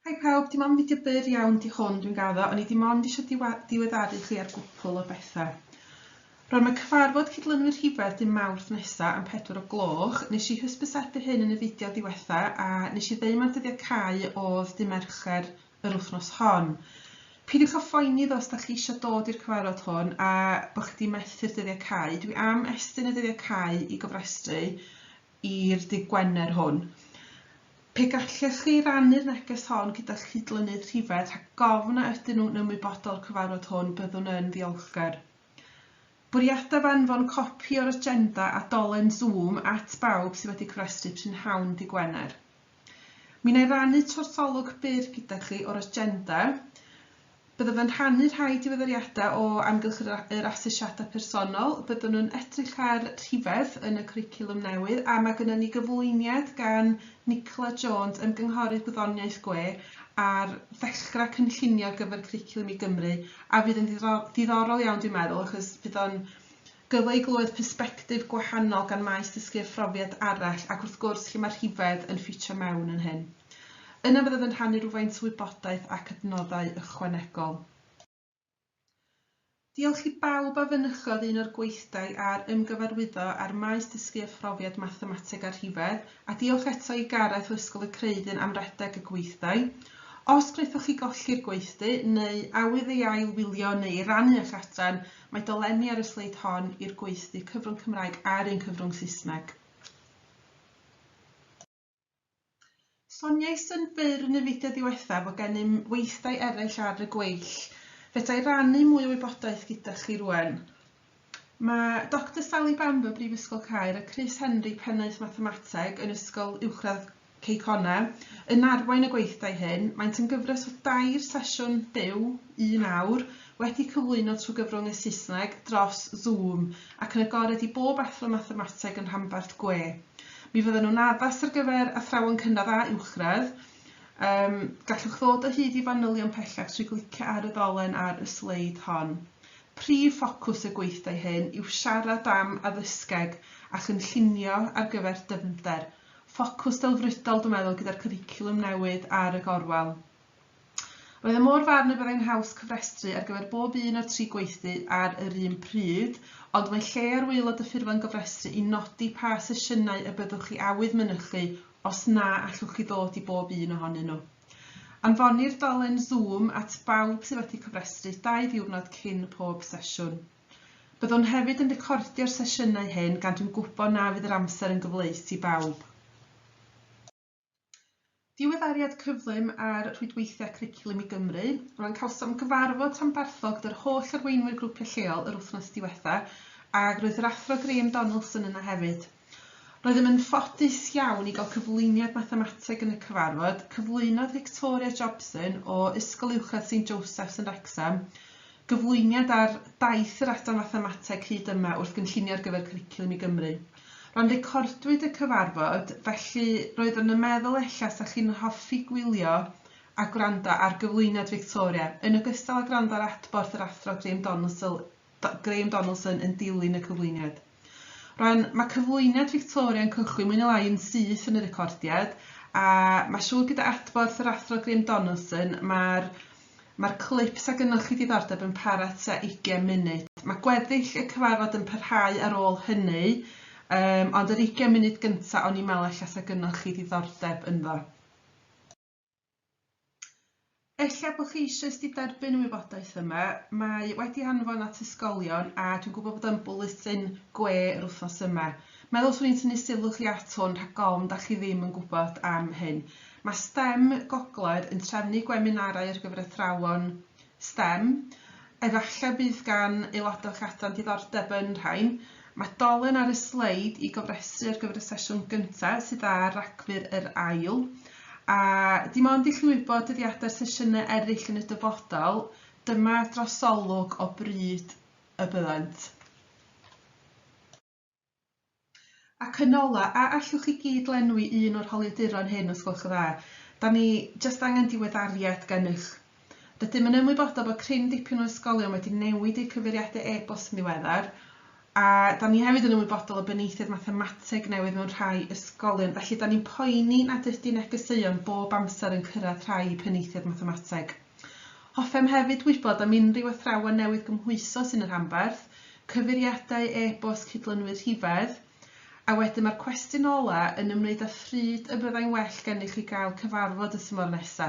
Hi pawb, dim ond fideo byr iawn di hwn dwi'n gaddo, o'n i dim ond eisiau diweddaru chi ar gwpl o bethau. Rwan mae cyfarfod cydlynwyr rhifedd dim mawrth nesa am pedwar o gloch, nes i hysbysebu hyn yn y fideo diwetha a nes i ddeu mae'r dyddiau cau oedd dim Mercher yr wythnos hon. Pidiwch a phoeni ddo os da chi eisiau dod i'r cyfarfod hwn a bod chi di methu'r dyddiau cau, dwi am estyn y dyddiau cau i gofrestru i'r dydd Gwener hwn. Pe gallech chi rannu'r neges hon gyda'ch cydlynydd rhifedd rhag gofn a ydyn nhw'n ymwybodol o'r cyfarfod hwn, byddwn yn ddiolchgar. Bwriadaf anfon copi o'r agenda a dolen Zoom at bawb sydd wedi cofrestru prynhawn dydd Gwener. Mi wna i rannu twrtholwg byr gyda chi o'r agenda. Byddaf yn rhannu rhai diweddariadau o amgylch yr, yr asesiadau personol. Byddwn yn edrych ar rhifedd yn y cwricwlwm newydd a mae gennym ni gyflwyniad gan Nicola Jones, Ymgynghorydd Gwyddoniaeth Gwe, ar fellgra cynllunio ar gyfer Cwricwlwm i Gymru a fydd yn ddiddorol iawn dwi'n meddwl achos bydd o'n Gyfle i glywed persbectif gwahanol gan Maes Dysgu a Phrofiad arall ac wrth gwrs lle mae rhifedd yn ffitio mewn yn hyn. Yna fyddaf yn rhannu rhywfaint o wybodaeth ac adnoddau ychwanegol. Diolch i bawb a fynychodd un o'r gweithdai a'r ymgyfarwyddo ar Maes Dysgu a Phrofiad Mathemateg a Rhifedd, a diolch eto i Gareth o Ysgol y Creuddyn am redeg y gweithdai. Os gwnaethoch chi golli'r gweithdy, neu awydd ei ail wylio neu ei rannu â'ch adran, Mae dolenni ar y sleid hon i'r gweithdy cyfrwng Cymraeg a'r un cyfrwng Saesneg. Soniais yn fyr yn y fideo ddiwethaf fod gennym weithdai eraill ar y gweill. Fedra i rannu mwy o wybodaeth gyda chi rwan. Mae Doctor Sally Bamber, Brifysgol Caer, a Chris Henry, Pennaeth Mathemateg yn Ysgol Uwchradd Cei Connah, yn arwain y gweithdai hyn. Maent yn gyfres o dair sesiwn byw, un awr, wedi cyflwyno trwy gyfrwng y Saesneg, dros Zoom, ac yn agored i bob athro mathemateg yn rhanbarth gwe. Mi fyddan nhw'n addas ar gyfer athrawon cynradd a uwchradd. Um, gallwch ddod o hyd i fanylion pellach trwy glicio ar y ddolen ar y sleid hon. Prif ffocws y gweithdai hyn yw siarad am addysgeg a chynllunio ar gyfer dyfnder, ffocws delfrydol dwi'n meddwl gyda'r cwricwlwm newydd ar y gorwel. Roedd e mor farn y byddai'n haws cofrestru ar gyfer bob un o'r tri gweithdy ar yr un pryd, ond mae lle ar waelod y ffurflen gofrestru i nodi pa sesiynau y byddwch chi awydd mynychu os na allwch chi ddod i bob un ohonyn nhw. Anfonir dolen Zoom at bawb sydd wedi cofrestru dau ddiwrnod cyn pob sesiwn. Byddwn hefyd yn recordio'r sesiynau hyn gan dwi'n gwybod na fydd yr amser yn gyfleus i bawb. Diweddariad cyflym ar rhwydweithiau Cwricwlwm i Gymru, Ro'n cawsom gyfarfod rhanbarthol gyda'r holl arweinwyr grwpiau lleol yr wythnos diwetha, ac roedd yr Athro Graham Donaldson yna hefyd. Roeddem yn ffodus iawn i gael cyflwyniad mathemateg yn y cyfarfod. Cyflwynodd Victoria Jobson o Ysgol Uwchradd Saint Joseph's yn Wrecsam gyflwyniad ar daith yr Adran Fathemateg hyd yma wrth gynllunio ar gyfer Cwricwlwm i Gymru. Rhan recordwyd y cyfarfod, felly roeddwn yn meddwl ella 'sa chi'n hoffi gwylio a gwrando ar gyflwyniad Victoria, yn ogystal â gwrando ar adborth yr Athro Graham Donaldsall Graham Donaldson yn dilyn y cyflwyniad. Rwan, mae cyflwyniad Victoria yn cychwyn mwy neu lai yn syth yn y recordiad, a mae siŵr gyda adborth yr Athro Graham Donaldson, mae'r mae'r clip sa gynnoch chi diddordeb yn para tua 20 munud. Mae gweddill y cyfarfod yn parhau ar ôl hynny, um, ond yr 20 munud gyntaf o'n i'n meddwl allan sa gynnoch chi ddiddordeb ynddo. Ella bod chi eisoes wedi derbyn y wybodaeth yma, mae wedi anfon at ysgolion a dwi'n gwybod bod o'n bwletin gwe yr wythnos yma. Meddwl swn i'n tynnu sylw chi at hwn rhag ofn da chi ddim yn gwybod am hyn. Mae STEM Gogledd yn trefnu gweminarau ar gyfer athrawon Stem. Efallai bydd gan aelodau o'ch adran diddordeb yn rhain. Mae dolen ar y sleid i gofrestru ar gyfer y sesiwn gyntaf sydd ar Ragfyr yr ail. A dim ond i chi wybod dyddiadau'r sesiynau eraill yn y dyfodol, dyma drosolwg o bryd y byddant. Ac yn ola, a allwch chi gyd lenwi un o'r holiaduron hyn os gwelwch yn dda? Da ni jyst angen diweddariad gennych. Rydym yn ymwybodol bod cryn dipyn o ysgolion wedi newid eu cyfeiriadau e-bost yn ddiweddar, a da ni hefyd yn ymwybodol o benaethiaid mathemateg newydd mewn rhai ysgolion, felly da ni'n poeni nad ydy negeseuon bob amser yn cyrraedd rhai penaethiaid mathemateg. Hoffem hefyd wybod am unrhyw athrawon newydd gymhwyso sy'n y rhanbarth, cyfeiriadau e-bost cydlynwyr rhifedd, a wedyn mae'r cwestiwn ola' yn ymwneud â phryd y byddai'n well gennych chi gael cyfarfod y tymor nesa'.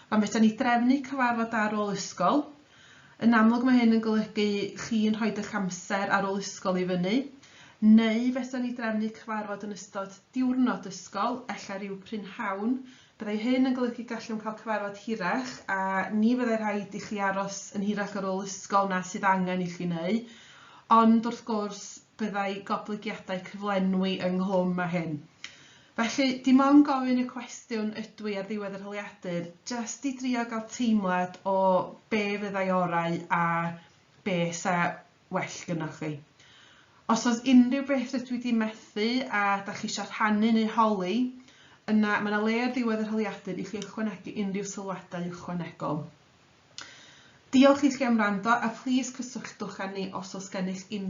Pan fedran ni drefnu cyfarfod ar ôl ysgol, yn amlwg mae hyn yn golygu chi'n rhoid eich amser ar ôl ysgol i fyny, neu fedran ni drefnu cyfarfod yn ystod diwrnod ysgol, ella ryw brynhawn, Byddai hyn yn golygu gallwn cael cyfarfod hirach a ni fyddai rhaid i chi aros yn hirach ar ôl ysgol na sydd angen i chi neu, ond wrth gwrs byddai goblygiadau cyflenwi ynghlwm â hyn. Felly, dim ond gofyn y cwestiwn ydw i ar ddiwedd yr holiadur, jest i drio gael teimlad o be fyddai orau a be 'sa well gynnoch chi. Os oes unrhyw beth rydw i di methu a da chi eisiau rhannu neu holi, yna mae yna le ar ddiwedd yr holiadur i chi ychwanegu unrhyw sylwadau ychwanegol. Diolch i chi am wrando a plis cysylltwch â ni os oes gennych unrhyw